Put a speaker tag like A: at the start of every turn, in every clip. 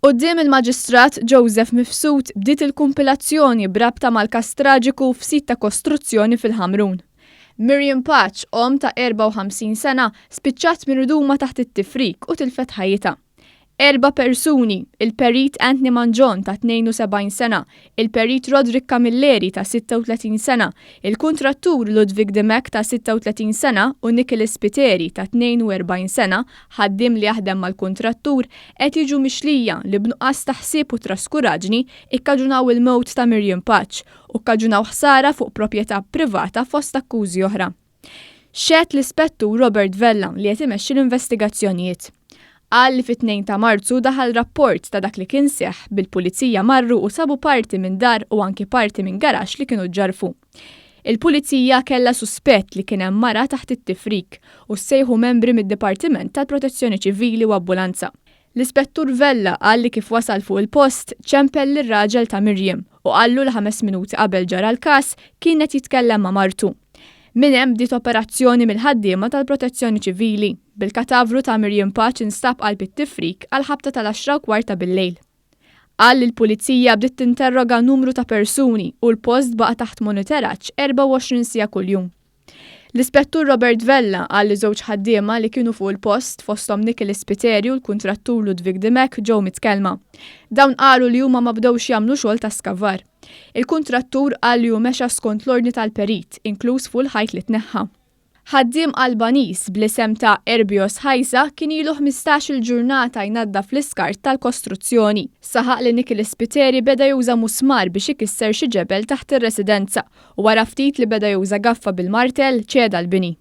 A: Quddiem il-Maġistrat Joseph Mifsud bdiet il-kumpilazzjoni b'rabta mal-każ traġiku f'sit ta' kostruzzjoni fil-Ħamrun. Miriam Paċ, omm ta' 54 sena, spiċċat miruduma taħt it-tifrik u tilfet ħajjitha. Erba' persuni, il-Perit Anthony Mangion ta' 72 sena, il-Perit Roderick Camilleri ta' 36 sena, il-kuntrattur Ludwig Dimech ta' 36 sena u Nicholas Spiteri ta' 42 sena, ħaddiem li jaħdem mal-kuntrattur, qed jiġu mixlija li b'nuqqas ta' ħsieb u traskuraġni kkaġunaw il-mewt ta' Miriam Paċ u kkaġunaw ħsara fuq proprjetà privata fost akkużi oħra. Xehed l-Ispettur Robert Vella li qed imexxi l-investigazzjonijiet. Qal li fit-Tnejn ta' Marzu daħal rapport ta' dak li kien seħħ bil-Pulizija marru u sabu parti minn dar u anki parti minn garaxx li kienu ġġarrfu. Il-Pulizija kellha suspett li kien hemm mara taħt it-tifrik u ssejħu membri mid-Dipartiment tal-Protezzjoni Ċivili u Abbulanza. L-Ispettur Vella qal li kif wasal fuq il-post, ċempel lir-raġel ta' Miriam u qallu li ħames minuti qabel ġara l-każ kien qed jitkellem ma' martu. Minn hemm bdiet operazzjoni mill-ħaddiema tal-Protezzjoni Ċivili, bil-katavru ta' Miriam Paċ instab qalb it-tifrik għall-ħabta tal-għaxra u kwart ta' billejl. Qal li l-Pulizija bdiet tinterroga numru ta' persuni u l-post baqa' taħt moniteraġġ 24 siegħa kuljum. L-Ispettur Robert Vella qal li żewġ ħaddiema li kienu fuq il-post, fosthom Nicholas Spiteri u l-kuntrattur Ludwig Dimech ġew mitkellma. Dawn qalu li huma ma bdewx jagħmlu xogħol ta' skavar. Il-kuntrattur qal li hu mexa skont l-ordni tal-perit, inkluż fuq il-ħajt li tneħħa. Ħaddiem Albaniż bl-isem ta' Erbios Haisa kien ilu ħmistax-il ġurnata jnaddaf l-iskart tal-kostruzzjoni. Saħaq li Nicholas Spiteri beda juża musmar biex ikisser xi ġebel taħt ir-residenza u wara ftit li beda juża gaffa bil-martell ċeda l-bini.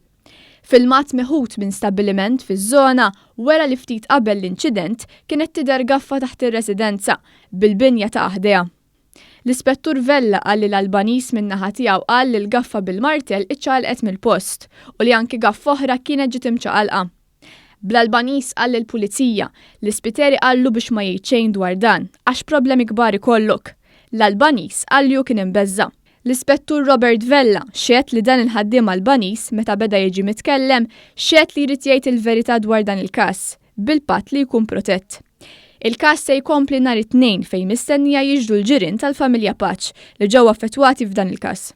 A: Filmat meħud minn stabbiliment fiż-żona wera li ftit qabel l-inċident kienet tidher gaffa taħt ir-residenza, bil-binja taqa' ħdejha. L-Ispettur Vella qal li l-Albaniż min-naħa tiegħu qal li l-gaffa bil-martell iċċaqalqet mill-post u li anki gaffa oħra kienet ġiet imċaqalqa. Bl-Albaniż qal lill-Pulizija, L-Ispiteri qallu biex ma jgħid xejn dwar dan, għax problemi kbar ikollok. L-Albaniż qal li hu kien imbeżża'. L-Ispettur Robert Vella xehed li dan il-ħaddiem Albaniż, meta beda jiġi mitkellem, xehed li jrid jgħid il-verità dwar dan il-każ, bil-patt li jkun protett. Il-każ se jkompli nhar it-Tnejn fejn mistennija jiġru l-ġirien tal-familja Paċ li ġew affettwati f'dan il-każ.